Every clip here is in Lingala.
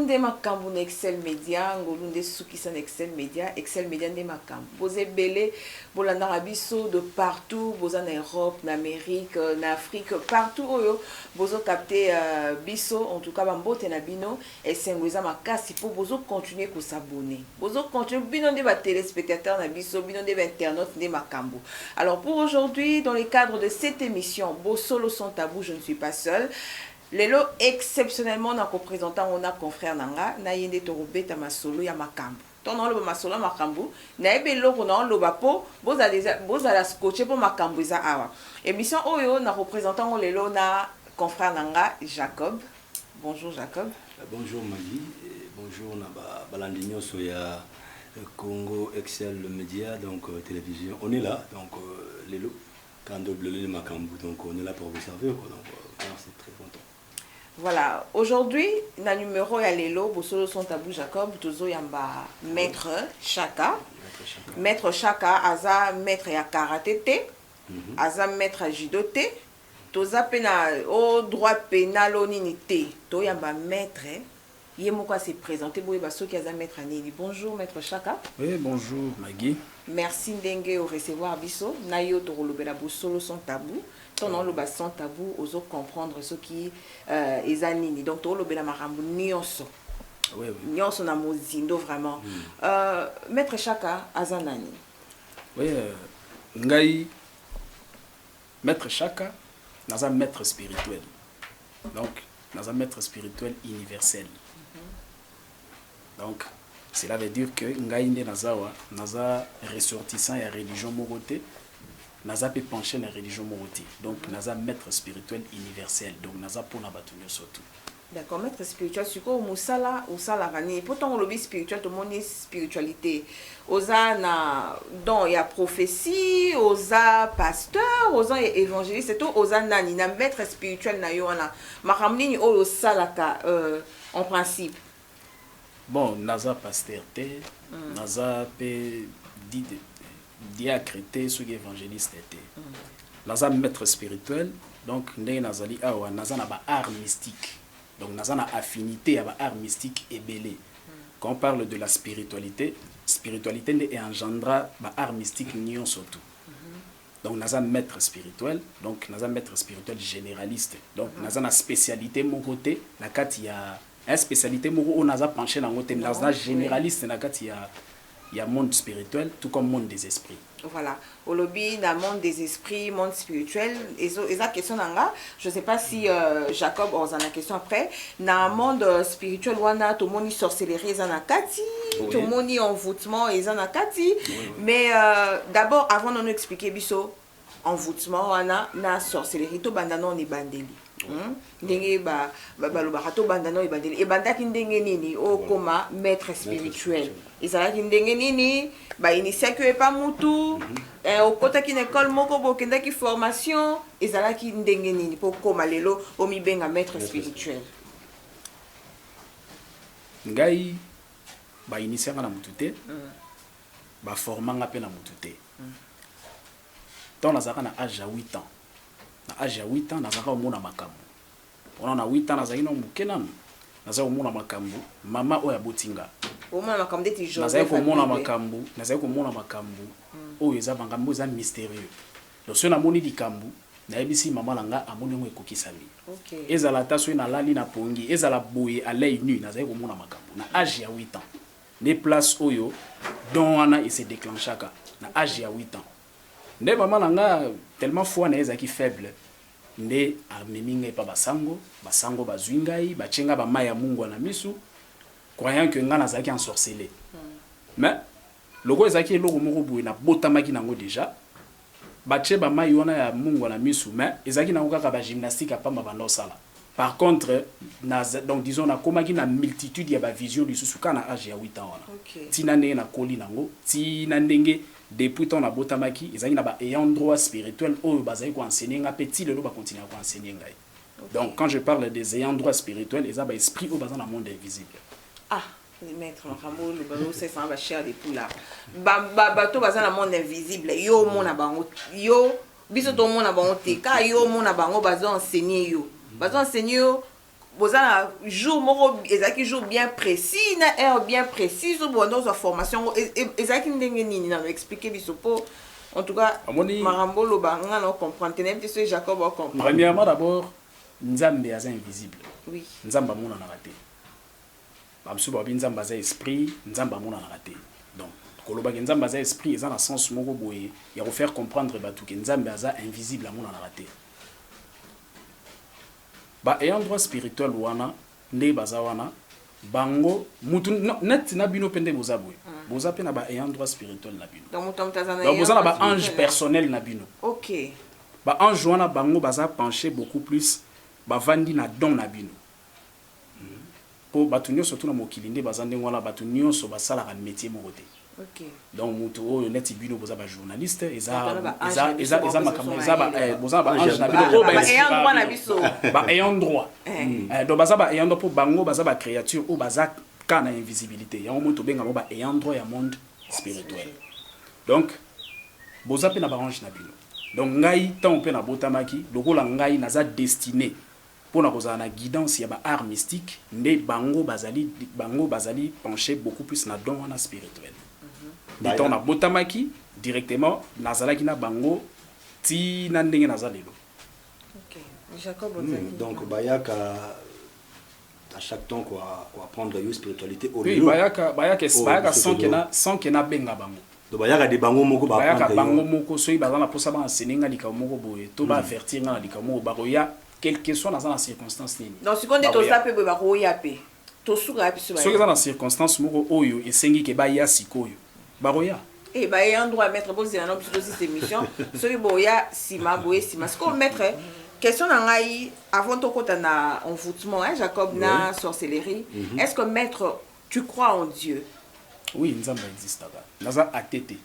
nde makambo na excel media ngolu nde sukisa na excel media excel media nde makambo boza ebele bolandaka biso de partout boza na europe na amérique na afrique partout oyo bozokapte uh, biso en tout cas bambote na bino Esengo eza makasi po bozo continuer ko s'abonner bozo continuer bino nde ba telespectateurs na biso bino nde ba internautes nde makambu alors pour aujourd'hui dans le cadre de cette emission bosolo sans tabou je ne suis pas seul lelo exceptionnellement na ko presenter yango na confrère na nga na ye nde toko beta masolo ya makambu ntango naoloba masolo ya makambo nayebi eloko naoloba mpo bozala deja bozala scotche mpo makambo eza awa émission oyo nakopresente yango lelo na confrère na nga jacob Bonjour Jacob. Bonjour Maggie et bonjour na ba balandi nyoso ya Congo Excel Media donc euh, télévision. On est là donc euh, lelo quand double le makambu donc on est là pour vous servir quoi donc euh, merci très content. Voilà, aujourd'hui, na numéro ya lelo, Bosolo son tabou Jacob, tozo yamba maître Chaka. Maître Chaka. Maître Chaka, aza maître ya karaté te, mm -hmm. aza maître ya judo te, Toza pe na o droit penal o nini te to yamba maitre ye moko a se presenter bo yeba soki aza maitre ya nini bonjour maitre shaka. Oui bonjour Maggie. Merci ndenge o recevoir biso na yo toko lobela bosolo sans tabou tango nao loba sans tabou ozo comprendre soki eza nini donc toko lobela makambo nionso nionso na mozindo vraiment maitre shaka aza nani? Oui ngai Maitre Shaka, naza maitre spirituel. Donc, naza maitre spirituel universel. Donc, cela veut dire que ngai nde naza wa, naza ressortissant ya religion moko te. Naza pe penché na religion moko te. Donc, naza maitre spirituel universel. Donc, naza pona bato nyoso tout. D'accord maitre spiritual sikoyo musala osalaka nini po tango olobi spiritual tomoni spiritualite oza na don ya prophetie oza pasteur oza evangeliste to oza nani na maitre spiritual na yo wana makambo nini oyo osalaka euh, en principe Bon naza pasteur te naza pe diacre te soki evangeliste te naza maitre spirituel donc ndenge nazali awa naza na ba art mystique donc naza na affinite ya ba art mystique ebele quand parle de la spiritualite spiritualite nde e engendra ba art mystique nionso tout donc naza maitre spirituel donc naza maitre spirituel generaliste donc naza na specialite moko te na kati ya Naya specialite moko oyo naza penche na ngo te, naza generaliste na kati ya ya monde spirituel tout comme monde des esprits. Voilà olobi na monde des esprits, monde spirituel ezo eza question na nga, je sais pas si euh, Jacob oza na question après na monde euh, spirituel wana tomoni sorcellerie eza na kati, oui. tomoni envoûtement eza na kati, oui, oui. mais euh, d'abord avant de nous expliquer biso envoutement wana na sorcellerie to banda non ebandeli hmm? ndenge ba, ba, balobaka to banda non ebandeli ebandaki ndenge nini okoma oh, maître spirituel ezalaki ndenge nini bainitiaki yo epa mutu mhm. eh, okotaki na ekole moko bokendaki formation ezalaki ndenge nini mpo okoma lelo omibenga maître spirituel ngai bainitiaka na mutu te mm. Ba forma nga pe na mutu te. Tango nazalaka na age ya huit ans, na age ya huit ans nazalaka komona makambu. Wana na huit ans nazalaki nanu muke nanu, nazalaki komona makambu, mama oyo aboti nga. Omona makambu ndeti Joseph Nazalaki komona Abibe. makambu, nazalaki komona makambu oyo eza mangambu oyo eza mysterieux. Donc soki namoni likambu, nayebisi mama na nga amoni yango ekokisami. Ok. Ezala ata soki nalali na pongi, ezala boye à l'oeil nu, nazalaki komona makambu na age ya huit ans. Nde place oyo don wana e se declenchaka na age ya huit ans. Nde mama na nga tellement foi na ye ezalaki faible nde amemi nga epa ba sango, ba sango bazui ngai batie nga ba mayi ya mungwa na misu croyant que nga nazalaki ensorcele. Mais lokola ezalaki eloko moko boye nabotamaki na yango dejà, Batie ba mayi wana ya mungwa na misu mais ezalaki nango kaka ba gymnastique ya pamba banda osala. Par contre na donc disons na komaki na multitude ya ba visions lisusu kaka na age ya huit ans wana ti na ndenge na koli nango ti na ndenge depuis temps na botamaki ezalaki na ba ayant droit spirituel oyo bazali ko enseigner nga pe ti lelo ba continuaka ko enseigner ngai. Donc quand je parle des ayants droit spirituel eza ba esprit oyo baza na monde invisible. Ah le maître makambo le balo c'est ça ba cher de tout là. Ba ba bato baza na monde invisible yo mona bango yo biso to mona bango te ka yo mona bango bazo enseigner yo. Bazo enseigner yo boza na jour moko ezalaki jour bien précis na heure bien précise obanda ozwa formation yango ezalaki ndenge nini nano expliquer biso mpo En tout cas, Amoni... makambo oloba nga na comprendre te nayebi te soki Jacob o comprendre. Premièrement d'abord Nzambe aza invisible. Oui. Nzambe amonanaka te. Bamosusu babi Nzambe aza esprit, Nzambe amonanaka te. Donc kolobaki Nzambe aza esprit eza na sens moko boye ya ko faire comprendre bato ke Nzambe aza invisible amonanaka te. Ba ayant droit spirituel wana Nde baza wana bango mutu net na bino pe nde boza boye boza pe na ba ayant droit spirituel na bino donc boza na ba ange personnel na bino ba ange wana bango baza penche beaucoup plus ba vandi na don na bino po batu nionso tout na mokili nde baza ndenge wana batu nionso basalaka metier moko te. donc mutu oyo neti bino boza ba journaliste eza eza eza eza makambo eza ba eh, boza ba ange na bino ba ayant droit na biso ba ayant droit eh. Eh, donc baza ba ayant droit po bango baza ba créature oyo baza ka na invisibilité yango moto benga ba ayant droit ya monde spirituel donc boza pe na ba ange na bino donc ngai tant pe na botamaki lokola ngai naza destiné Mpo na kozala na guidance ya ba arts mystiques nde bango bazali bango bazali pencher beaucoup plus na don wana spirituel. Nde tango nabotamaki directement nazalaki na bango ti na ndenge naza lelo. Hum donc bayaka à chaque temps ko apprendre yo spiritualite au Oui, lieu bayaka bayaka es bayaka sans que na sans que nabenga bango. Donc bayaka de bango moko ba apprendre yo? Bayaka bango moko soki baza na posa ba enseigner nga likambo moko boye to ba avertir nga na likambo moko bakoya quelque soit naza na circonstance nini. Donc sikoyo nde toza pe boye bakoya pe? Tosuka wapi soki baye? Soki eza na circonstance moko oyo esengi ke baya sikoyo bakoya. Eh ba ayant droit maitre bozela nao biso tosilisa emission soki boya sima boye sima sikoyo maitre question na ngai avant tokota na envoutement hein Jacob na sorcellerie est ce que maitre Tu crois en Dieu? Oui nzambe existaka naza athee te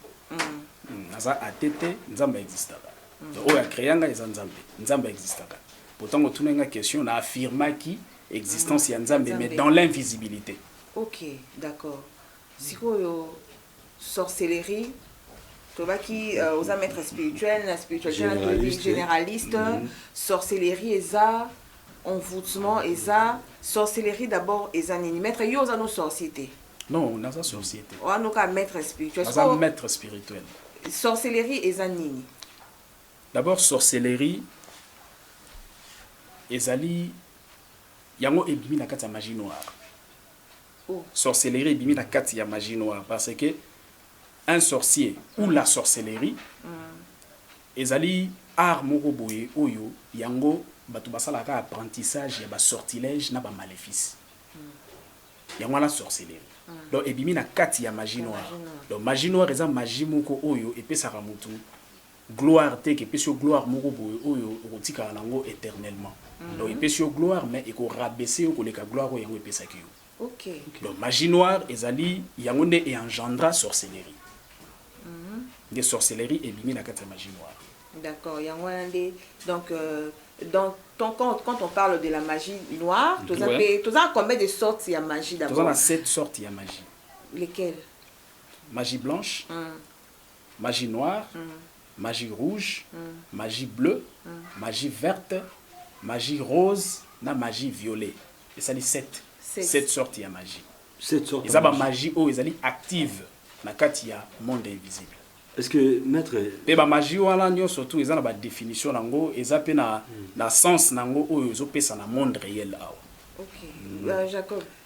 naza athee te nzambe existaka oyo a crea nga eza nzambe nzambe existaka po tango otunaki nga question na affirmaki existence ya nzambe mais dans l'invisibilite. Ok d'accord sikoyo. sorcellerie tolobaki euh, oza maître spirituel na spiritualité na toyebi généraliste mm -hmm. sorcellerie eza envoûtement eza sorcellerie d'abord eza nini maître yo oza no sorcier te non naza sorcier te wana oka maître spirituel aza so, maître spirituel sorcellerie eza nini d'abord sorcellerie ezali yango ebimi na kati ya magie noire sorcellerie ebimi na kati ya magie noire parce que un sorcier ou la sorcellerie ezali art moko boye oyo yango batu basalaka kaka apprentissage ya ba sortilèges na ba malefices yango wana sorcellerie donc ebimi na kati ya magie noire donc magie noire eza magie moko oyo epesaka mutu Gloire te epesi yo gloire moko boye oyo okotikala na yango eternellement. Donc epesi yo gloire mais eko rabaisser yo koleka gloire oyo yango epesaki yo. Donc magie noire ezali yango nde e engendra sorcellerie. Nde sorcellerie ebimi na kati ya magie noire. D'accord, yango wana nde donc dans ton compte quand on parle de la magie noire toza pe toza na combien de sortes ya magie d'abord? Toza na 7 sortes ya magie. Lesquelles? Magie blanche, Magie noire, magie rouge, magie bleue, magie verte, magie rose na magie violet. Esali sept, sept sortes ya magie. Eza ba magie oyo ezali active na kati ya monde invisible. Est ce que maitre. Pe ba magie wana nionso tout eza na ba definition na yango, eza pe na na sens na yango oyo ezo pesa na monde reel awa. Ok, Jacob.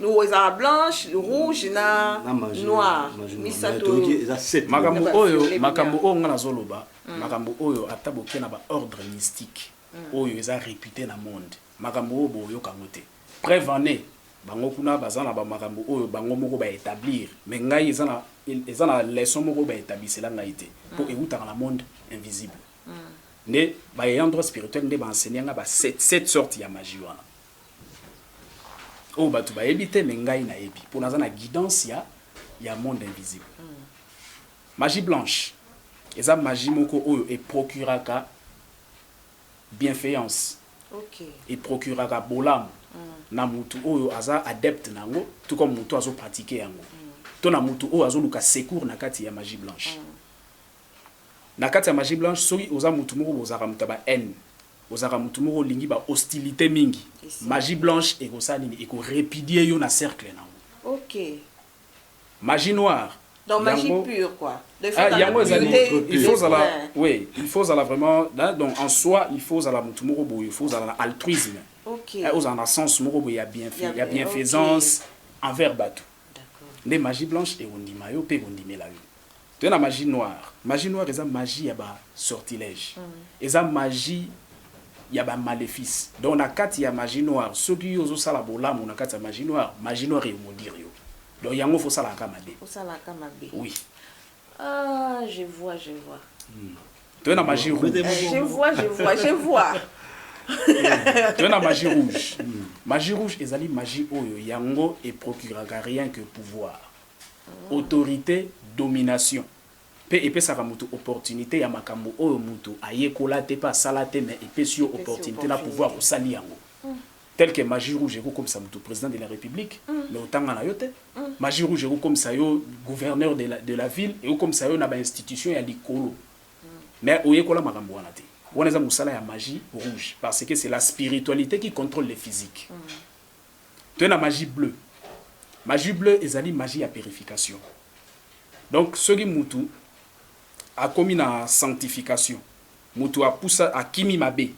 Logo ezalaka blanche, rouge na Na magie, noir. magie noire. Misato Mais toloki oyo. eza sept. makambo Naba oyo sirene makambo bina. oyo nga nazoloba makambo oyo ata boke na ba ordre mystique oyo eza repute na monde makambo oyo boyoka yango te preuve en est bango kuna baza na ba makambo oyo bango moko ba etablir mais ngai eza na eza na leçon moko ba etablisela ngai te po ewutaka na monde invisible nde ba ayant droit spirituel nde ba enseigne nga ba sept sept sorte ya magie wana Oyo batu bayebi te mais ngai nayebi po naza na guidance ya ya monde invisible. Magie blanche eza magie moko oyo e procuraka bienfeance, e procuraka bolamu na mutu oyo aza adepte na yango tout comme mutu azo pratiquer yango to na mutu oyo azo luka secours na kati ya magie blanche. Na kati ya magie blanche soki oza mutu moko bozalaka mutu ya ba haine Ozalaka mutu moko olingi ba hostilite mingi magie blanche ekosala nini eko repudier yo na cercle na ngo ok magie noire donc magie pure quoi ah yango ezali il faut ozala oui il faut ozala vraiment donc en soi il faut ozala mutu moko boye il faut ozala na altruisme ok eh, ozala na sens moko boye ya bien ya bienfaisance envers batu nde magie blanche ekondima yo mpe ekondimela yo Toye na magie noire. Magie noire eza magie ya ba sortilège. Eza magie ya ba malefice. Donc na kati ya magie noire soki yo ozo sala bolamu na kati ya magie noire, magie noire e maudire yo. Donc yango faut osalaka kaka mabe. Osalaka kaka mabe. Oui. Ah je vois, je vois. Toye na magie rouge. Je vois, je vois, je vois. Toye na magie rouge. Magie rouge ezali magie oyo yango e procuraka rien que pouvoir. autorite, domination, mpe epesaka moto opportunite ya makambo oyo moto ayekola te mpe asala te mais epesi yo opportunite na pouvoir osali yango. Tel que magie rouge eko komisa moto president de la republique mais otanga na yo te. Magie rouge eko komisa yo gouverneur de la, de la ville, eko komisa yo na ba institutions ya likolo mais oyekola makambo wana te. Wana eza mosala ya magie rouge parce que c'est la spiritualite qui controle le physique. Toye na magie bleu. Magie bleu ezali magie ya purification. Donc soki mutu akomi na sanctification, mutu apusa akimi mabe,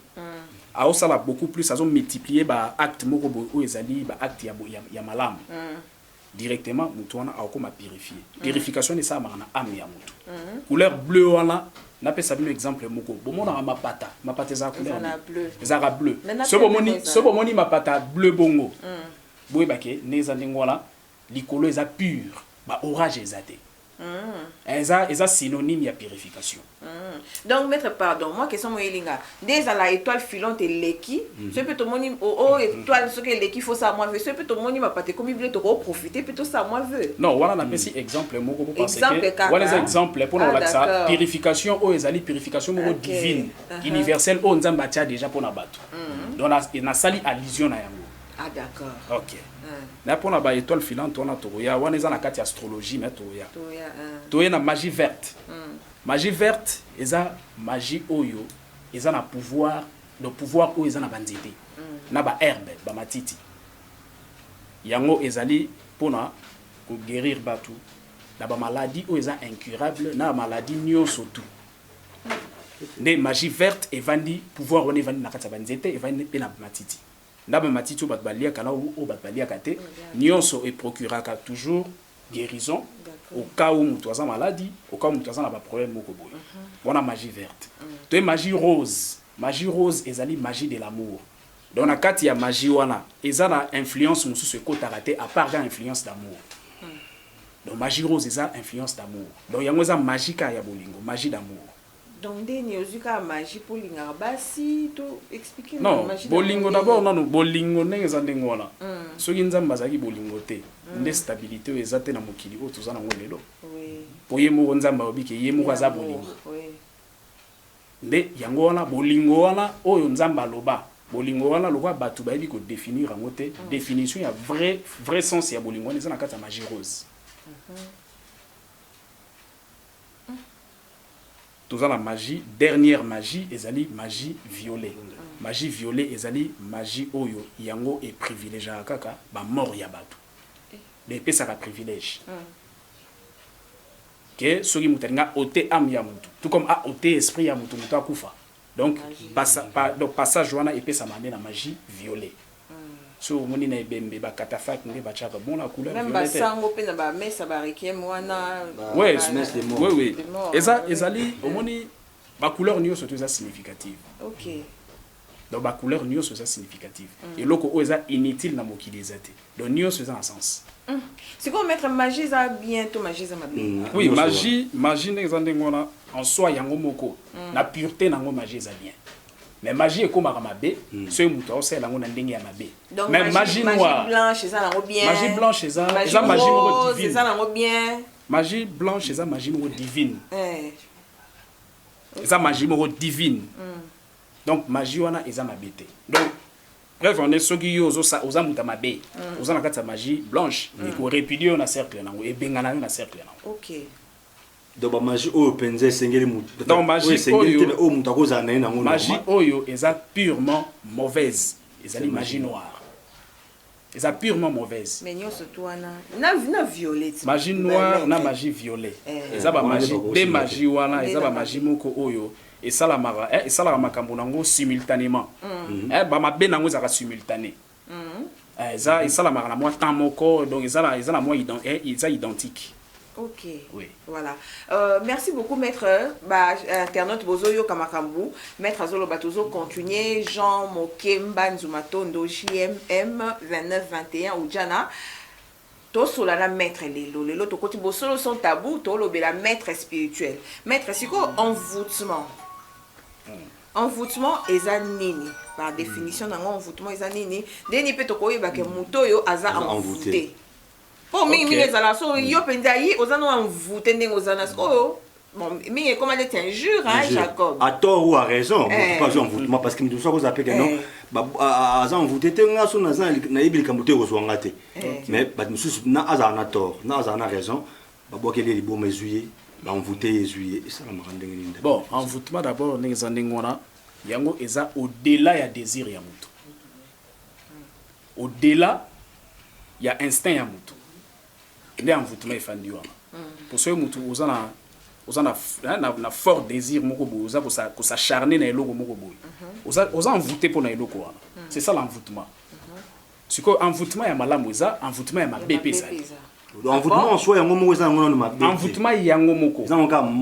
aosala beaucoup plus, azo multiplier ba actes moko boye oyo ezali ba actes ya malamu. directement mutu wana akokoma purifier. Purification wana esalamaka na ame ya mutu. Couleur bleu wana napesa bino exemple moko bomonaka mapata mapata ezalaka couleur nini ezalaka bleu soki bomoni soki bomoni mapata bleu bongo boyeba ke nde eza ndenge wana likolo eza pure ba orage eza te Eza eza synonyme ya purification. Donc maitre pardon mwa question mo yeli nga nde ezala etoile filante eleki soki mpe tomoni o o etoile soki eleki faut sa mwa vœux soki mpe tomoni mapata ekomi ebele toko profiter mpe to sa mwa vœux. Non wana na pesi exemple moko bo pense que wana eza exemple mpo na kolakisa purification oyo ezali purification moko divine universelle oyo Nzambe atia dejà mpo na batu donc na sali allusion na yango. Ah d'accord. Ok. Hein. Mais pour la étoile filante, on a Toya, on est dans la carte astrologie, mais Toya. Toya. Hein. Toya na magie verte. Hein. Magie verte, ils ont magie oyo, ils ont un pouvoir, le pouvoir où ils ont un bandité. Hein. Na ba herbe, ba matiti. Yango ezali pona ko guérir batu. Na ba maladie où ils ont incurable, na maladie nyo surtout. Hein. Nde magie verte evandi pouvoir on evandi na kati ya banzete evandi pe na matiti. Ndambu ya matiti oyo batu baliaka na oyo batu baliaka te, nionso e procuraka toujours guerison au cas où mutu aza maladi, au cas où mutu aza na ba probleme moko boye. Wana magie verte. Toye magie rose. Magie rose ezali magie de l'amour. Donc na kati ya magie wana, eza na influence mosusu ekotaka te à part kaka influence d'amour. Donc magie rose eza influence d'amour. Donc yango eza magie kaka ya bolingo, magie d'amour. Donc nde ni ozui kaka magie po olingaka basi to explique nga magie. Non, bolingo d'abord nanu bolingo ndenge eza ndenge wana. Mm. Soki Nzambe azalaki bolingo te, mm. nde stabilité oyo eza te na mokili oyo toza nango lelo. Oui. Po ye moko Nzambe alobi ke ye moko aza bolingo. Oui. Nde yango wana bolingo wana oyo Nzambe aloba. Bolingo wana lokola bato bayebi ko définir yango te, mm. définition ya vrai vrai sens ya bolingo wana eza na kati ya magie rose. Mm -hmm. Toza na magie, dernière magie ezali magie viole. Magie viole ezali magie oyo yango e privilegiaka kaka ba morts ya batu. Mais epesaka privilège que soki mutu alingi a oter ame ya mutu tout comme a oter esprit ya mutu, mutu akufa. Donc passage wana epesama nde na magie violet. Soki omoni na ebembe ba catafalques nde batiaka bon na couleur violet te. Meme ba sango pe na ba mesa ba requiem wana. Oui, oui. Eza ezali omoni ba couleurs nioso to eza significative. Okay. Donc ba couleurs nioso eza significative. Eloko oyo eza inutile na mokili eza te. Donc nioso eza na sens. Hum. Sikoyo maitre magie eza bien to magie eza mabe? Hum, oui magie, magie ndenge eza ndenge wana en soi yango moko hum. na pureté nango magie eza bien. Mais magie ekomaka mabe hum. soki moto aosala yango na ndenge ya mabe. Donc Mais magie, magie noire, magie blanche eza nango bien. Magie blanche eza magie eza magie moko divine. Eza nango bien. Magie blanche eza magie moko divine. Eh. Eza magie moko divine. Hum. Donc magie wana eza mabe te. Donc Preuve en est soki yo ozo sa oza mutu ya mabe oza na kati ya magie blanche eko repudier yo na cercle nango ebengana yo na cercle nango. Okay. Donc ba magie oyo penza esengeli mutu Donc oyo magie esengeli te oyo mais oyo mutu akozala na ye nango magie normal. oyo eza purement mauvaise ezali C'est magie magie noire eza purement mauvaise Mais nionso tout wana na na violet. magie noire na magie violet Eh. eza ba Wana nde magie bakosi de na te. magie wana Nde eza na ba magie magie. moko oyo Esalamaka eh, esalaka makambo na ngo simultanement eh, ba mabe na ngo ezalaka simultane eh, eza esalamaka na mwa temps moko donc eza na eza na mwa ident eh, eza identique. Ok. Oui. Voilà. Euh, merci beaucoup, maître. Bah, internaute Bozo Yoka Makambu. Maître Azolo Batozo, continuer. Jean Mokemba Nzumatondo, JMM 2921 ou Djana. Tosola na maitre lelo. Lelo tokoti bosolo sans tabou tolobela maitre spirituel. Maitre sikoyo envoutement envoutement eza nini par definition na ngo envoutement eza nini ndeni pe tokoyeba ke moto oyo aza envoute po mingi mingi ezala so yo penza yi oza no envoute ndenge oza na sikoyo Bon, mingi ekoma neti injure hein, Jacob. À tort ou à raison, moto eh. pas envoûtement parce que moto soit koza peke non. aza envoûté te nga so naza nayebi likambo te ekozwa nga te eh. mais bato mosusu na azala na tort na azala na raison babwakeli ye liboma ezwi ye baenvoûte ye ezwi ye esalamaka ndenge nini bon envoûtement d'abord ndenge eza ndenge wana yango eza au-delà ya désir ya moto au-delà ya instinct ya moto eh bien envoûtement efandi wana mpo soki motu oza na oza na, hein, na, na fort désir moko boye oza kosacharne na eloko moko boye mhm. oza, oza envoûte mpo na eloko wana mhm. c'est ça l'envoûtement mhm. sikoyo envoûtement ya malamu eza envoûtement ya mabe mpe ezali envoûtement en soi yango moko eza yango nano mabe envoûtement yango moko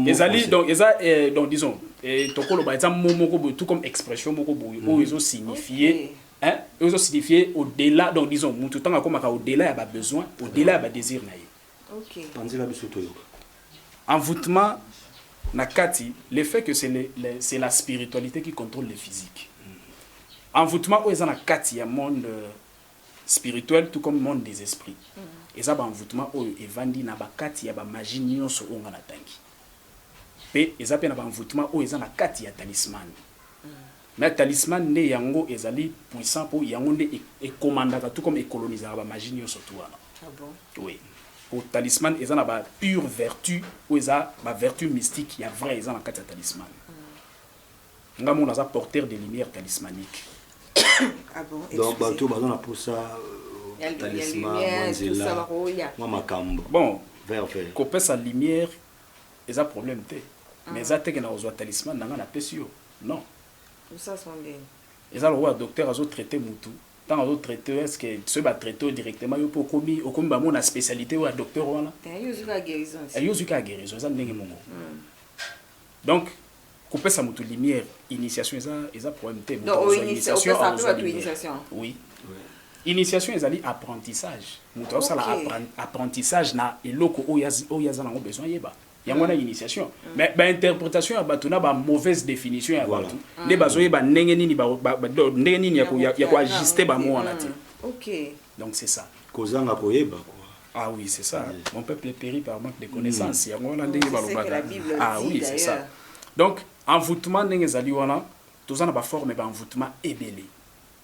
ezali donc eza eh, donc disons eh, tokoloba eza mo moko boye tout comme expression moko boye oyo ezo signifie Hein ezo signifier au dela donc disons mutu tango akomaka au dela ya ba besoins au dela ya ba desirs na ye. Ok. Panzela biso toyoka. Envoutement na kati le fait que c'est le c'est la spiritualite qui controle le physique. Envoutement oyo eza na kati ya monde spirituel tout comme monde des esprits. Eza ba envoutement oyo evandi na ba kati ya ba magie nionso oyo nga na tangi. Pe eza pe na ba envoutement oyo eza na kati ya talismane. Mais talisman nde yango ezali puissant po yango nde e commandaka tout comme e colonisaka ba magie nionso tout wana. Ah bon? Oui. Po talisman eza na ba pure vertu oyo eza ba vertu mystique ya vrai eza na kati ya talisman. Nga moko naza porteur de lumière talismanique. Ah bon? Donc batu oyo baza na posa talisman, mwa nzela, mwa makambo. Bon, Vert vert. kopesa lumière eza problème te. Mais eza te ke nakozwa talisman na nga napesi yo. Non. Lusas ngo ndenge. Eza lokola docteur azo traite mutu tango azo traite yo est ce que soki ba traite yo directement yo pe okomi okomi ba mona specialite oyo ya docteur wana Eh yo ozwi kaka guerison eh, esi. yo ozwi kaka guerison eza ndenge moko donc kopesa mutu lumière initiation eza eza problème te mutu Donc, akozwa oiniti- initiation opesaka pe akozwa batu lumière initiation. oui initiation ezali apprentissage mutu azosala Ok. appren- apprentissage na eloko oyo azi- oyo aza nango besoin ayeba yango wana initiation mais ba interpretation ya bato na ba mauvaise définition ya bato nde bazoyeba ndenge nini ba, ba, ba, do- ndenge nini ya ko- ya- ya koajuste bamo wana te ok donc c'est ça kozanga koyeba quoi ah oui c'est ça mon peuple périt par manque de connaissance yango wana ndenge C'est ce que balobaka la Bible ah dit, oui c'est ça d'ailleurs. donc envoûtement ndenge ezali wana toza na baforme ba envoûtement ebele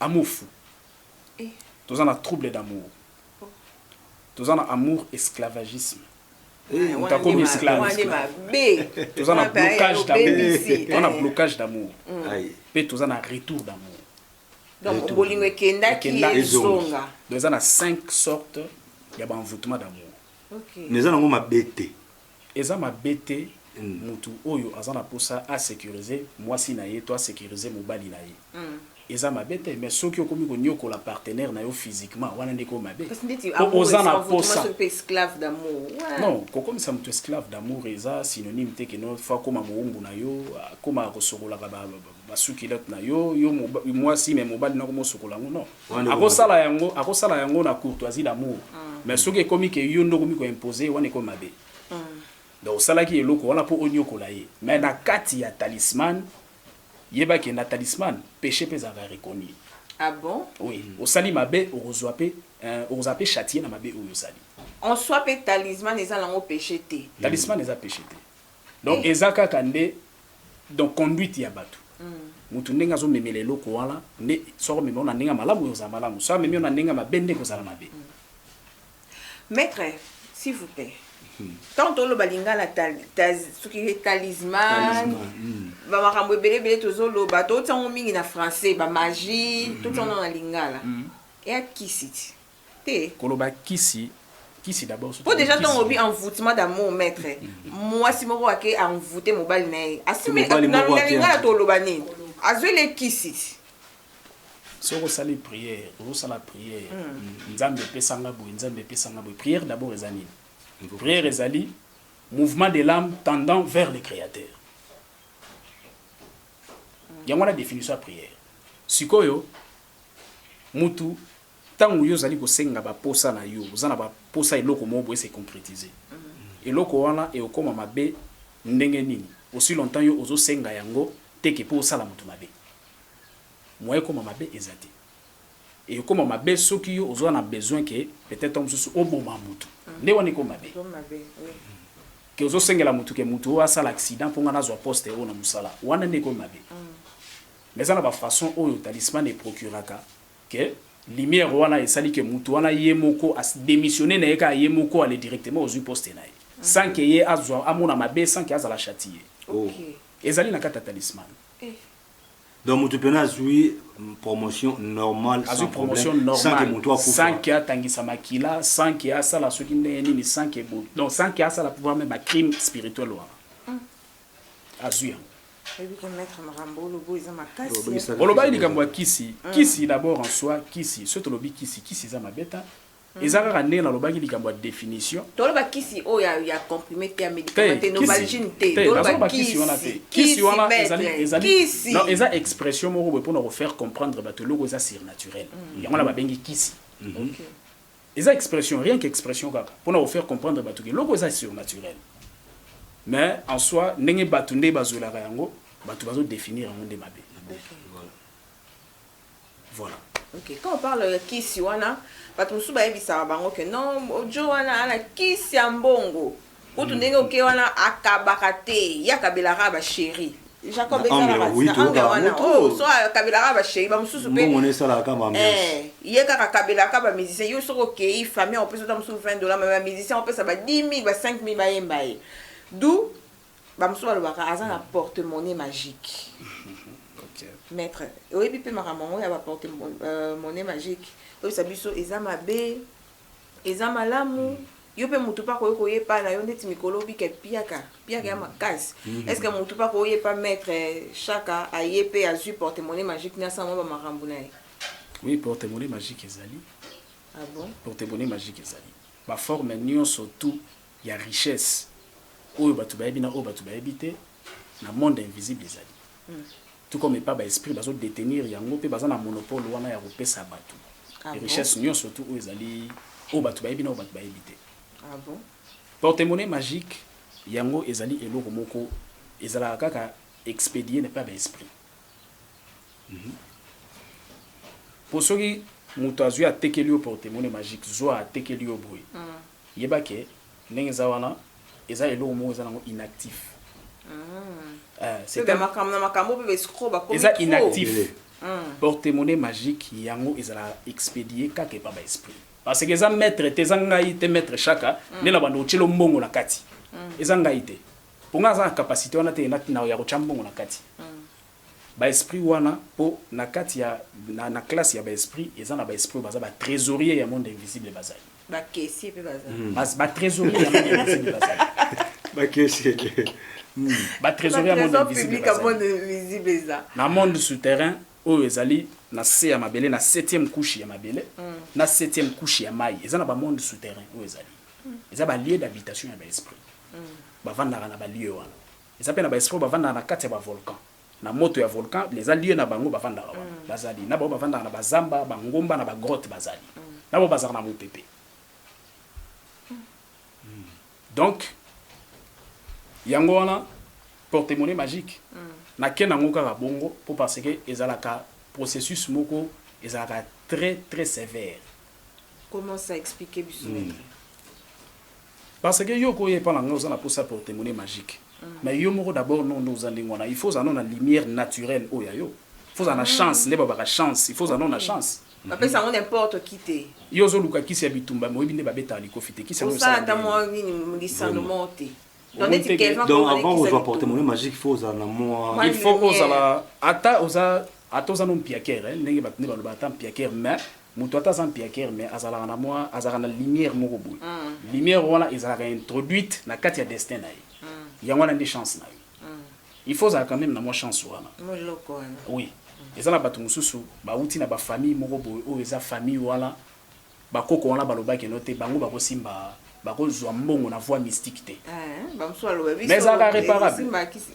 Amour fou toza na trouble d'amour toza na amour esclavagisme moto akomi esclave toza na blocage d'amour toza na blocage d'amour mpe toza na retour d'amour donc bolingo ekendaki ezonga donc eza na 5 sorte ya baenvoutement d'amour mais eza nango mabe te Eza mabe te mutu oyo aza na posa a securiser muasi na ye to a securiser mobali na ye eza mabe te mais soki okomi ko niokola partenaire na yo physiquement wana nde ekomi mabe po oza na posa non ko komisa mutu esclave d'amour eza synonyme te que no faut akoma mowumbu na yo akoma ko sokolaka ba sous culotte na yo yo muasi mais mobali nako mo sokola yango non Akosala yango, akosala yango na courtoisie d'amour. Mm. Mais soki ekomi ke yo nde okomi ko imposer, wana ekomi mabe. Mm. Donc osalaki eloko wana po onyokola ye. Mais na kati ya talisman, yeba ke na talisman, péché pe ezalaka reconnu. Ah bon? Oui, osali mabe, okozwa pe, euh, okozala pe chatier na mabe oyo osali. En soi pe talisman eza nango péché te. Talisman eza péché te. Donc eza kaka nde donc conduite ya batu mutu ndenge azo memela eloko wana nde soki omema yo na ndenge ya malamu ekozala malamu soki amemi yo na ndenge ya mabe nde ekozala mabe. Maitre s'il vous plait tant toloba lingala soki talisman ba makambo ebele ebele tozoloba totia yango mingi na français ba magie totia yango na lingala eya kisi ti. te. Koloba kisi, kisi d'abord soki. Po dejà tango olobi envoutement d'amour maitre, muasi moko ake envouter mobali na ye, asi me na lingala toloba nini? Azueli ye kisi. Soki osali prière, ozo sala prière, Nzambe pesa nga boye, Nzambe pesa nga boye, prière d'abord eza nini? Prière ezali mouvement de l'ame tendant vers le Createur. Yango wana definition ya prière. Sikoyo mutu. Tango yo ozali kosenga ba posa na yo, oza na ba posa eloko moko boye e se concretiser. Eloko wana ekokoma mabe ndenge nini aussi longtemps yo ozo senga yango te que po osala mutu mabe. Moyen ekoma mabe eza te. Ekokoma mabe soki yo oza na besoin que peut etre tango mosusu oboma mutu. Nde wana ekomi mabe. Que ozo sengela mutu que mutu oyo asala accident po nga nazwa poste oyo na musala. Wana nde ekomi mabe. Mais eza na ba façons oyo talisman e procuraka que lumière wana esali que mutu wana ye moko a demissionner naye kaka ye moko aller directement ozui poste naye sans que ye azua amona mabe sans que azala chatier oh ezali na kati ya talisman. Donc mutu pena azui promotion normale sans azui promotion problème sans que normale mutu akufa sans que atangisa makila sans que asala soki ndenge nini sans que bo donc sans que asala pouvoir meme ba crime spirituel wana azui yango olobaki likambo ya kisi mm. kisi d'abord en soi kisi soki tolobi kisi kisi eza mabeta mm. eza kaka ndenge nalobaki likambo ya définition toloba kisi oyo oh, ya comprime te ya médicament te novalgine te toloba kisi wana te kisi wana ezali non eza expression moko boye mpona kofaire comprendre bato eloko eza surnaturel mm. yango na babengi kisi mhm. Eza expression, rien que expression kaka pona ko faire comprendre batu ke eloko eza surnaturel. Mais en soi ndenge batu nde bazwelaka yango, batu bazo definir yango nde mabe. Voilà. Ok, quand on parle ya kisi wana, batu mosusu bayebisaka bango ke non, Djo wana aza na kisi ya mbongo. Kutu ndenge oke wana akabaka te ye akabelaka ba cherie Jacob ezalaka angle wana oh so akabelaka ba cherie ba mususu pe mbongo esalaka kama ambiance eh ye kaka akabelaka ba musiciens yo soko okei famille en plus ta mususu 20 dollars mais ba musiciens opesa ba 10000 ba 5000 ba yemba ye d'où ba mususu balobaka aza na porte-monnaie magique maître oyebi pe makambo yango ya ba porte-monnaie magique oyebisa biso eza mabe eza malamu yo mpe motu mpe akoki koya epai na yo ndeti mikolo obika epiaka piaka ya makasi mm. estce que motu mpe akoya epai maître shaka aye mpe azwi portemone magique nde asala mwa bamakambo na ye oui portemone magique ezali ah bon? portemone magique ezali baforme nyonso tout ya richesse oyo bato bayebi na oyo bato bayebi te na monde invisible ezali mm. tout comme epa ba esprits bazo detenir yango pe baza na monopole wana ya kopesa batu richesse nionso tout oyo ezali oyo batu bayebi na oyo batu bayebi te. Porte-monnaie magique yango ezali eloko moko ezalaka kaka expedier epa ba esprits po soki mutu azui atekeli yo porte-monnaie magique zua atekeli yo boye Yeba ke ndenge eza wana eza eloko moko eza nango inactif eza inactif porte monnaie magique yango ezala expedie kaka epa ba esprit parce que eza maitre te eza ngai te maitre shaka nde na bando otyelo mbongo na kati eza ngai te mpo ngai aza na capacité wana te ya kotya mbongo na kati baesprit wana mpo na kati ya na, na classe ya baesprit eza na baesprit oyo baza batrésorier ya monde invisible bazali Ba caissiers pe baza. Ba tresoriers ya monde invisible baza. Ba caissiers. Ba tresoriers ya monde invisible baza. Ba tresor public ya monde invisible eza. Na monde souterrain oyo ezali na se ya mabele na septième couche ya mabele na septième couche ya mayi eza na ba monde souterrain oyo ezali. Eza ba lieux d'habitation ya ba esprits. Bavandaka na ba lieux wana. Eza pe na ba esprits oyo bavandaka na kati ya ba volcans. Na moto ya volcan les allies na bango bavandaka wana bazali na bango bavandaka na ba zamba ba ngomba na ba grotte bazali na bango bazalaka na mopepe donc yango wana porte monnaie magique na ken yango kaka bongo po parce que ezalaka processus moko ezalaka très très sevère comment ça explique biso Parce que yo okoya epa na ngai oza na posa ya portemone magique mais yo moko d'abord non nde oza ndenge wana il faut ozala no na lumière naturelle oyo ya yo il faut ozala na chance nde babaka chance il faut ozala no na chance bapesa yango n'importe qui te yo ozoluka kisi ya bitumba mais oyebi nde babetaka likofi te kisi yango osala ata mwa nini lisano moko te Donc, Omoni neti te ke- Kevin donc Kongolais avant ozwa kisaki portemone magique faut ozala na mwa Mwa- il faut lumière. ozala ata oza ata oza no mpiakere eh, ndenge bato nde baloba ata mpiakere mais moto ata aza mpiakere mais azalaka na mwa azalaka na lumière moko boye lumière wana ezalaka introduite na kati ya destin na ye yango wana nde chance na yo il faut ozala quand même na mwa chance wana moloko wana oui eza na bato mosusu bauti na bafamille moko boye oyo eza famille wana Ba koko wana balobaki no te bango bako simba bako zua mbongo na voie mystique te mais ezalaka reparable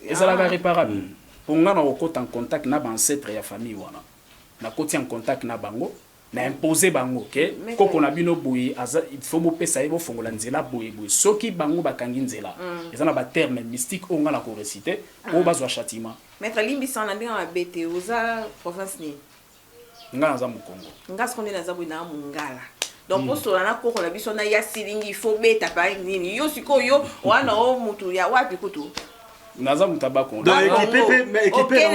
ezalaka reparable po nga nako kota en contact na ba ancetres ya famille wana na koti en contact na bango na imposer bango ke koko na bino boye aza il faut bo pesa ye bo fongola nzela boye boye soki bango ba kangi nzela eza na ba termes mystique oyo nga nako reciter po ba zua chatiment. Maitre limbisa na ndenge mabe te oza province nini? Nga naza mukongo. Nga sikoyo nde naza boye naa mungala. Donc hmm. osola na koko na biso na ya silingi il faut beta pa nini yo sikoyo yo wana o mutu ya wapi kutu naza moto abakonokende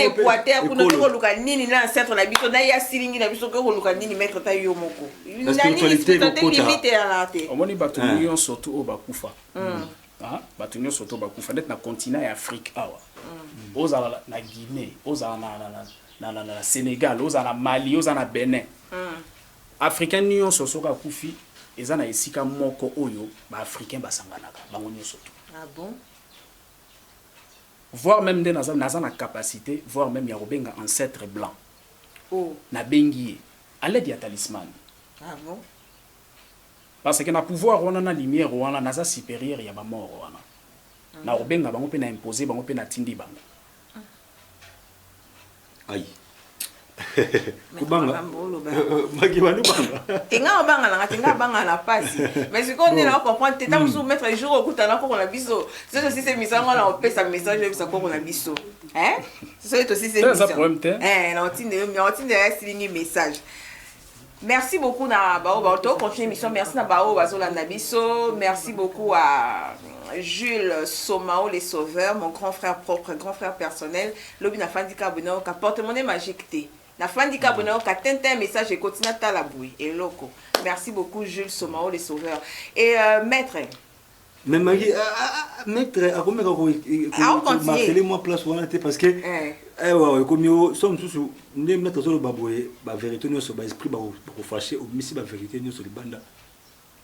equateur kuna oke koluka nini na ancetre na biso na ya silingi na biso oke koluka nini maître ta yo moko limite yalaa te omoni bato eh. nyonso to oyo bakufa hmm. ah, bato nyonso to bakufa ndeti na continent ya afrique awa hmm. ozala na guinée ozala na na na na Senegal oza na Mali oza na Benin africain nionso soki akufi eza na esika moko oyo ba africain basanganaka bango nionso tout ah bon voir meme nde naza naza na capacité voir meme ya kobenga ancêtre blanc oh nabengi ye à l'aide ya talisman ah bon parce que na pouvoir wana na lumière wana naza supérieur ya ba mort wana na kobenga bango mpe na imposer bango mpe natindi bango Aïe. kobanga maki bani banga tenga obanga nanga tenga banga na pasi mais sikoyo nde na comprendre te ntango mosusu hmm. maître jour okutana koko na biso soki tosisi emission yango na kopesa message oyebisa koko na biso soki tosisi emission eh, na otinda yo na otinda ya silingi message Merci beaucoup na baoyo ba to continue mission merci na baoyo bazolanda biso merci beaucoup à Jules Somao le sauveur mon grand frère propre grand frère personnel lobi na fandi ka bono ka porte monnaie magique te na fandi ka bono ka tintin message ekoti na tala boye eloko merci beaucoup Jules Somao le sauveur et euh, maître Mais Marie, ah, ah, ah, maître akomeka ko Ah, on continue. marteler moi place wana te parce que Eh. eh ouais ekomi o so mosusu nde maître azoloba boye ba vérité nyonso ba esprit bako bako fâcher omisi ba vérité nyonso libanda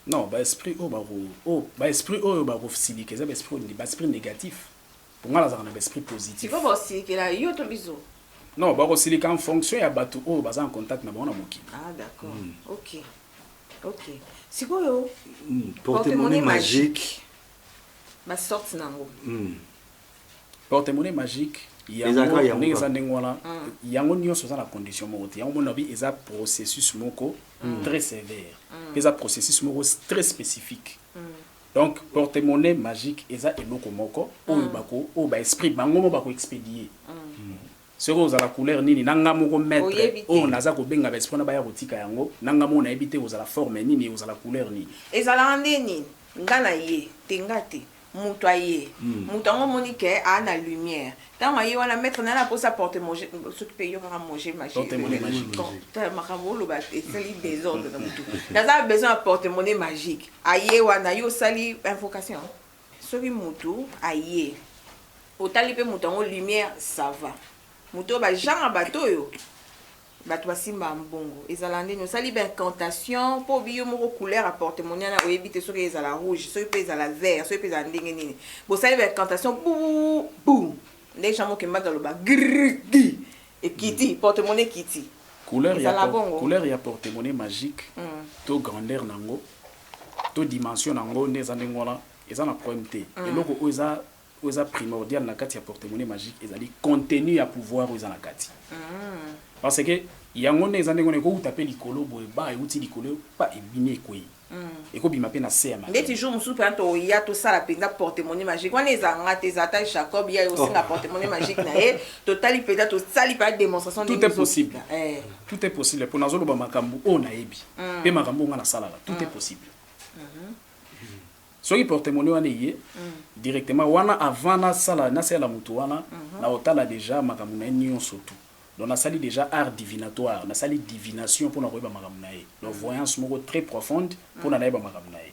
non baesprit oyo bako oyo baesprit oyo bakosilika eza baesprit oyo- baesprit négatif po nga nazalaka na ba esprit positif. Sikoyo bako silikela yo to biso? Non, bako silika en fonction ya batu oyo baza en contact na bango na mokili. Ah d'accord. Mm. OK. OK. Sikoyo mm. porte-monnaie magique ba sorte nango. Mm. Porte-monnaie magique yango ndenge eza ndenge wana mm. yango nyonso eza na condition moko te yango mona bi eza processus moko mm. très sévère mpe mm. eza processus moko très spécifique Donc porte monnaie magique eza eloko moko oyo bako oyo ba esprit bango moko bako expedie soki ozala couleur nini na nga moko maitre Oyebi te. oyo naza kobenga ba esprit wana baya kotika yango na nga moko nayebi te ozala forme nini ozala couleur nini ezalaka nde nini nga na ye te nga te mutu aye mutu yango omoni ke aa na lumière Tango aye wana maitre naye na posa porte moje soki pe yo kaka moje magique makambo oloba esali desordre na mutu naza besoin ya porte monnaie magique aye wana yo osali invocation soki mutu aye otali pe mutu yango lumière ça va moto oyo bajanga bato oyo Batu basimba mbongo ezala ndeni osali ba incantation po biyo moko couleur ya porte monnaie wana oyebi te soki ezala rouge soki pe ezala vert soki pe ezala ndenge nini bosali ba incantation buu buu nde jean mokembadi aloba grrrgi ekiti porte monnaie ekiti couleur ya ezala por- bongo couleur ya porte monnaie magique Mm. to grandeur na yango to dimension na yango nde eza ndenge wana eza na problème te eloko oyo eza Oyo eza primordial na kati ya porte-monnaie magique ezali contenu ya pouvoir oyo eza na kati. Parce que yango nde eza ndenge wana ekowuta mpe likolo boye ba ewuti likolo pa ebimi ekweyi. Ekobima mpe na se ya mabele. Ndeti jour mosusu mpenza toya tosala mpenza porte-monnaie magique wana ezala nga te ezala ata Jacob ye aye kosenga porte-monnaie magique na ye totali mpenza tosali mpenza demonstration ndenge ezo. Tout est possible. Tout est possible mpo nazoloba makambo oyo nayebi mpe makambo oyo nga nasalaka tout est possible. Soki porte-monnaie wana eye directement wana avant nasala nasalela mutu wana nakotala dejà makambo na ye nionso tout donc nasali dejà art divinatoire nasali divination pona koyeba makambo na ye donc voyance moko très profonde pona nayeba makambo na ye.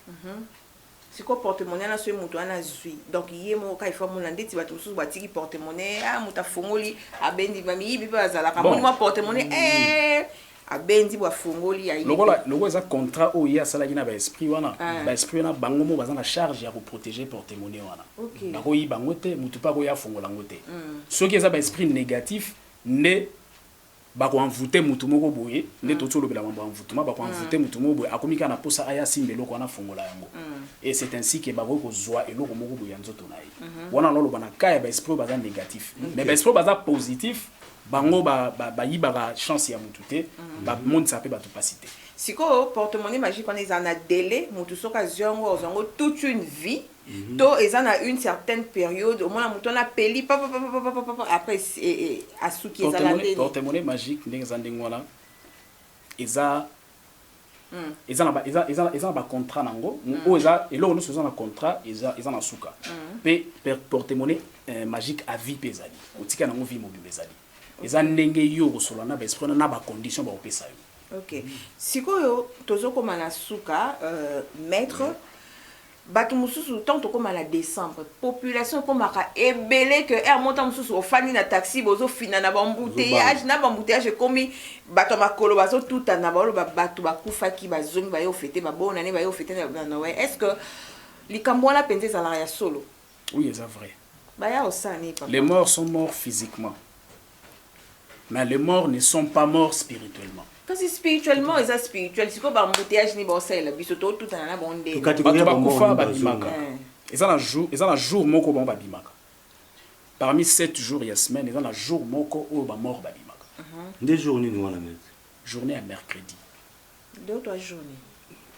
Sikoyo porte-monnaie wana soki mutu wana azui donc ye moko kaka il faut amona ndeti batu mususu batiki porte-monnaie ah mutu afongoli abendi ba miyibi pe bazalaka amoni mua porte-monnaie eeh. abendi bwa fongoli ya ye lokola te. lokola eza contrat oyo ye asalaki na ba esprit wana ah. ba esprit wana bango mo baza na charge ya ko proteger porte monnaie wana okay. bako yi bango te mutu pa ko ya fongola ngo te mm. soki eza ba esprit négatif nde bako envoute mutu moko boye nde mm. toti olobela mambo envoutema bako mm. envoute mm. mutu moko boye akomi kaka na posa aya simba eloko wana fongola yango mm. et c'est ainsi que bakoki kozwa eloko moko boye ya nzoto na ye mm -hmm. wana naloba na cas ya ba esprit oyo baza négatif mm -hmm. mais ba esprit oyo baza positif Bango ba ba yibaka chance ya mutu te ba monisaka pe batu pasi te. Sikoyo porte monnaie magique wana ezala na delais mutu soki azui yango azua yango toute une vie to eza na une certaine periode omona mutu wana apeli papapapapapapapa après asuki ezala ndeni? Porte monnaie magique ndenge eza ndenge wana eza eza na ba eza eza eza na ba contrat na ngo oyo eza eloko nioso eza na contrat eza eza na suka pe porte monnaie eh, magique à vie pe ezali otika na ngo vie mobimba ezali eza ndenge yo okosola na ba esprit wana na ba condition bakopesa yo ok sikoyo tozokoma na suka euh, maître mm. Batu mususu tango tokoma na decembre population ekomaka ebele que heure moko tango mususu ofandi na taxi bozo finana ba embouteillages na ba embouteillages ekomi batu ya makolo bazo tutana bazo loba batu bakufaki bazongi baye ko feter ba bonne annee baye ko feter na Noël est ce que likambo wana penza ezalaka ya solo? Oui eza vrai. Baya kosala nini papa? Les morts sont morts physiquement. Mais les morts ne sont pas morts spirituellement. kasi spirituellement eza spirituel sikoyo bambouteillage nini baosalela biso totutana na bango ndenge Tokati- bato bakufa babimaka Eh. eza na jour eza na jour moko bango babimaka parmi 7 jours ya semaine eza na jour moko oyo bamort babimaka Nde jour nini wana maître? journée ya mercredi Deux trois journees.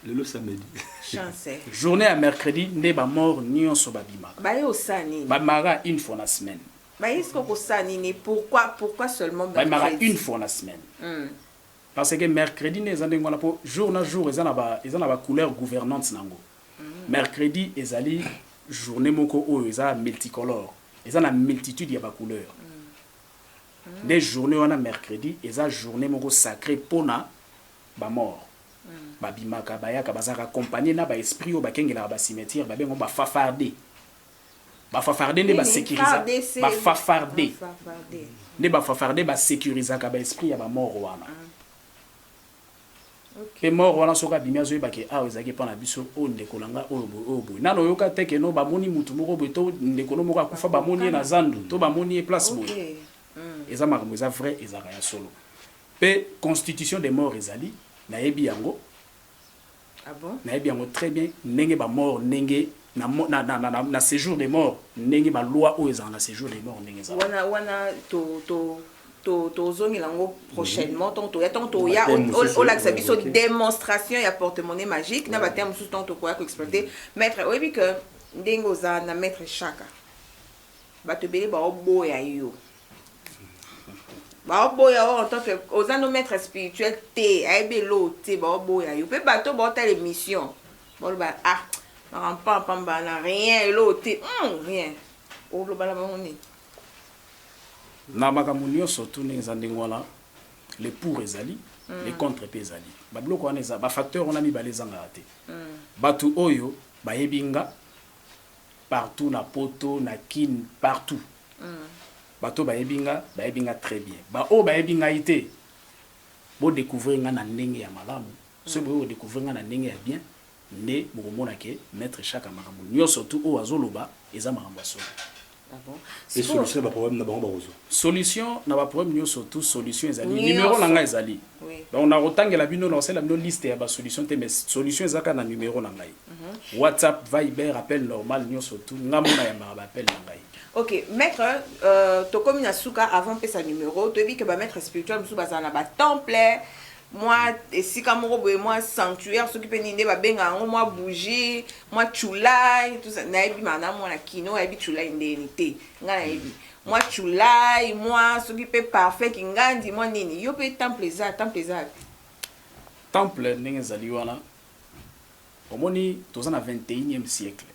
Lelo samedi. Chance. Journée ya mercredi nde ba morts nionso ba bimaka. Ba ye osa nini? Ba mara une fois na semaine. Ba ye siko kosa nini? Pourquoi pourquoi seulement mercredi? Ba mara une fois na semaine. Hmm. Parce que mercredi nde eza ndenge wana po jour na jour eza na ba eza na ba couleur gouvernante nango. Hmm. Mercredi ezali journée moko oyo eza multicolore. Eza na multitude ya ba couleurs. Hmm. nde journee wana mercredi eza journee moko sacre pona ba morts ba bimaka bayaka bazalaka accompagne na ba esprit oyo bakengelaka ba cimetière ba benga ngo ba fafarde ba fafarde nde ba securisa ba fafarde nde ba fafarde ba securisaka ba esprit ya ba morts wana Pe mort wana soki abimi azo yeba ke awa ezalaki epa na biso, oyo ndeko na ngai, oyo boye, oyo boye. Nanu oyoka te ke non ba moni mutu moko boye to ndeko no moko akufa ba moni ye na zandu to ba moni ye place boye. Eza makambo eza vrai ezalaka ya solo. Pe constitution de mort ezali, na yebi yango. Ah bon? Nayebi yango très bien ndenge ba morts ndenge na na na na na séjour des morts ndenge ba lois oyo ezala na séjour des morts ndenge ezala. Wana wana to to to tozongela yango prochainement ntango toya ntango toya Ba-terme o- o- mosusu, olakisa biso ok. démonstration ya porte-monnaie magique na bateme mosusu ntango tokoya koexploite maître oyebi que ndenge oza na maître shaka bato ebele baoboya yo baoboya yo en tant que oza no maître spirituel te ayebi elo te baoboya yo mpe bato baotala émission baloba ah makambo pampamba na rien elo te mm, rien oloba na bango nini na makambo nyonso tu ndenge eza ndenge wana le pour ezali mm. le contre mpe ezali babiloko wana eza bafacteur wana mibale ezangaka te mm. bato oyo bayebi nga partout na poto na kin partout batu oyo bayebi nga bayebi nga très bien ba oyo bayebi ngai te bo decouvrir nga na ndenge ya malamu soki boye ko decouvrir nga na ndenge ya bien nde bokomona ke maitre shaka makambo nioso tout oyo azoloba eza makambo ya solo. Ah bon? Et solution na ba problème na bango bakozwa? Solution na ba problème nioso tout solution ezali numero na ngai ezali donc nakotangela bino nakosalela bino liste ya ba solution te mais solution eza kaka na numero na ngai. WhatsApp, Viber, appel normal nyoso tout nga mona yambaka ba appel na ngai. Ok maître euh, tokomi na suka avant pesa numero toyebi ke ba maître spirituel mosusu bazala na ba temple mwa esika moko boye mwa sanctuaire soki mpe nini nde babenga yango mwa bougie mwa chulai nayebi maana mwana kino ayebi chulai ndeni te ngai nayebi mwa chulai mwa soki mpe parfum kingandi mwa nini yo mpe temple eza temple eza temple ndenge ezali wana Omoni toza na 21e siècle.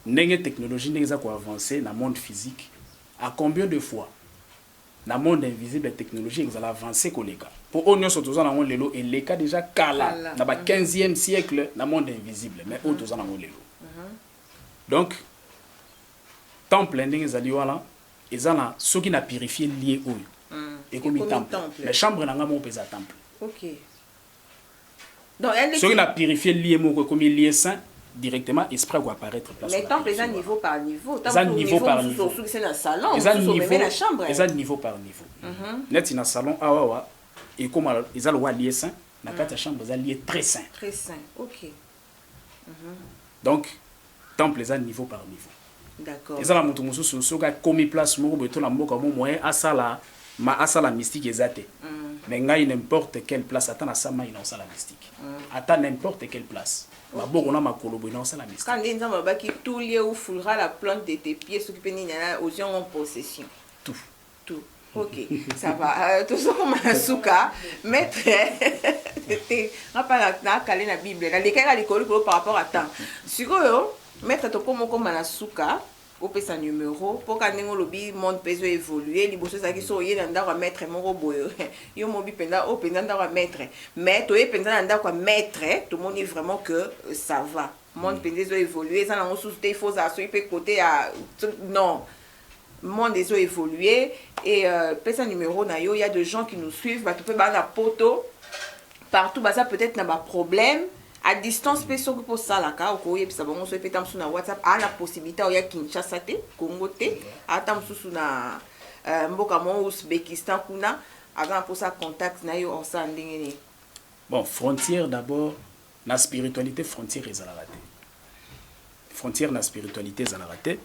Ndenge technologie ndenge eza ko avancer na monde physique, à combien de fois na monde invisible technologie ekozala avancer koleka? Po oyo nionso toza nango lelo eleka dejà kala na ba 15e siècle na monde invisible mais oyo toza nango lelo. Donc temple ndenge ezali wana eza na soki na purifier lieu oyo ekomi temple mais chambre na ngai moko pe eza temple. Donc elle soki na purifier lie moko ekomi lie saint directement esprit ko apparaître place mais temple eza niveau par niveau eza niveau par niveau soki c'est na salon eza niveau même na chambre eza niveau par niveau mhm. net na salon awa ah, wa ekoma eza lowa lie saint na kati ya mhm. chambre eza lie très saint très saint OK donc temple eza niveau par niveau eza na mutu mususu soki akomi place moko boye to na mboka mo moyen asala ma asala mystique eza te mais ngai n'importe quelle place ata na sa mai na osala mystique ata n'importe quelle place maboko na makolo boye na osala mystique Quand nde nzambe abaki tout lieu où foulera la plante de tes pieds soki pe nini na ozwi yango en possession tout tout ok ça va euh, tozokoma na suka maître te nga mpa nakale na bible nalekaki na likolo likolo par rapport à temps sikoyo maître tokoma okoma na suka opesa numero mpo ka ndenge olobi monde mpe ezo évolue liboso ezalaki so oye na ndako ya maître moko boye yo mobi mpenza oyo mpenza ndako ya maître mais toye mpenza na ndako ya maître tomoni vraiment que euh, ça va monde mpenza ezo évolue eza nango susu te il faut ozala soki mpe kote ya non Monde ezo evoluer et pesa numero na yo ya de gens qui nous suivent batu pe ba na poto partout baza peut-être na ba problèmes à distance pe soki po salaka oko yebisa bango soki pe ta musu na WhatsApp a na possibilité au ya Kinshasa te Congo te ata mususu na euh, mboka mo Uzbekistan kuna aza na posa contact na yo osa ndenge nini bon frontière d'abord na spiritualité frontière ezalaka te frontière na spiritualité ezalaka te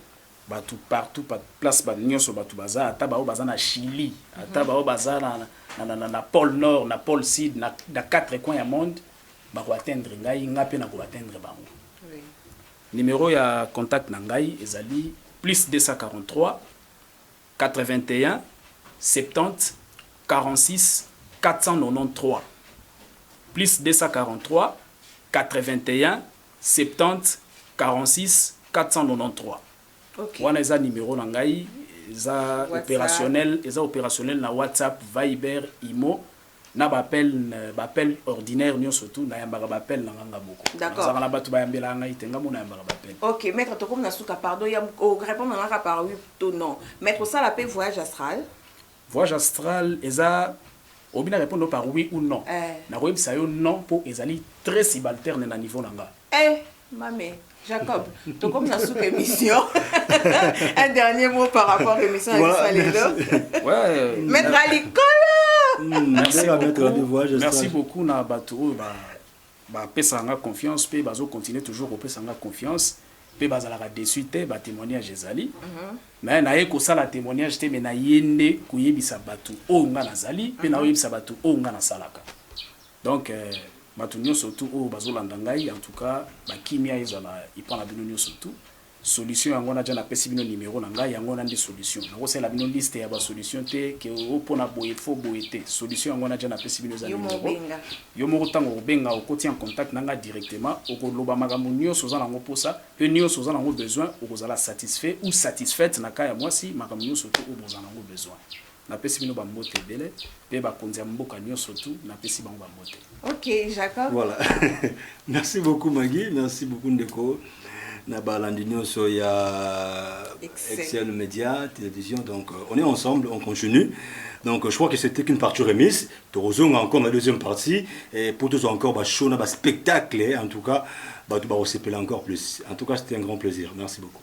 Batu partout pa place ba nioso batu baza ata ba oyo baza na chili ata ba oyo baza na na na na na pole nord na pole sud na na quatre coins ya monde ba ko atteindre ngai nga pe na ko atteindre bango numero ya contact na ngai ezali plus 243 81 70 46 493 plus 243 81 434 wana eza numero na ngai eza operationel eza operationel na WhatsApp viber imo na ba appel ba appel ordinaire nionso tout na yambaka ba appel na nga nga moko nazalaka na batu bayambelaka ngai te nga moko na yambaka ba appel ok maitre tokomi na suka pardon ya o repondre nga kaka par oui to non mais kosala pe voyage astral Voyage astral eza obi na repondre yo par oui ou non nako yebisa yo non po ezali tres sibalterne na niveau na nga. Eh mame Jacob tokomi na suka emission un dernier mot par rapport emission ya bisalelo maitre ya likolo. Merci beaucoup na batu oyo ba Ba pesaka nga confiance pe bazo continuer toujours ko pesa nga confiance pe ba zalaka deçu te, ba temoignages ezali mais na ye ko sala temoignage te mais na ye nde ko yebisa batu oyo nga na zali pe nao yebisa batu oyo nga na salaka donc batu nionso tout oyo bazo landa ngai en tout cas ba kimia ezala epa na bino nionso tout. Solution yango naja na pesi bino numero na ngai yango wana nde solution nako salela bino liste ya ba solution te que oh pona boye faut boye te solution yango wana ja na pesi bino eza numero yo moko tango okobenga okoti en contact na ngai directement oko loba makambo nioso oza nango posa pe nioso oza nango besoin okozala satisfait ou satisfaite na cas ya muasi makambo nioso tout oyo boza nango besoin Napesi bino ba mbote ebele pe ba konzi ya mboka nioso tout napesi bango ba mbote. Ok Jacob. Voilà. merci beaucoup Maggie, merci beaucoup ndeko na balandi nioso ya Excel Media Télévision donc euh, on est ensemble, on continue. Donc je crois que c'était qu'une partie remise. Torozonga encore la deuxième partie et pour tous encore ba show na ba spectacle en tout cas ba tu ba encore plus. En tout cas, c'était un grand plaisir. Merci beaucoup.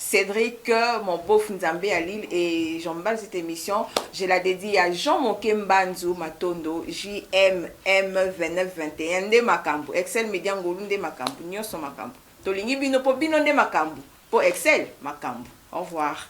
Cedric mon beauf nzambe ya lil et j'en mbala cette emission je la dedie à jean moke mbanzu matondo JMM 2921 nde makambu excel media ngolu nde makambu nioso makambu tolingi bino po bino nde makambu po excel makambu au revoir.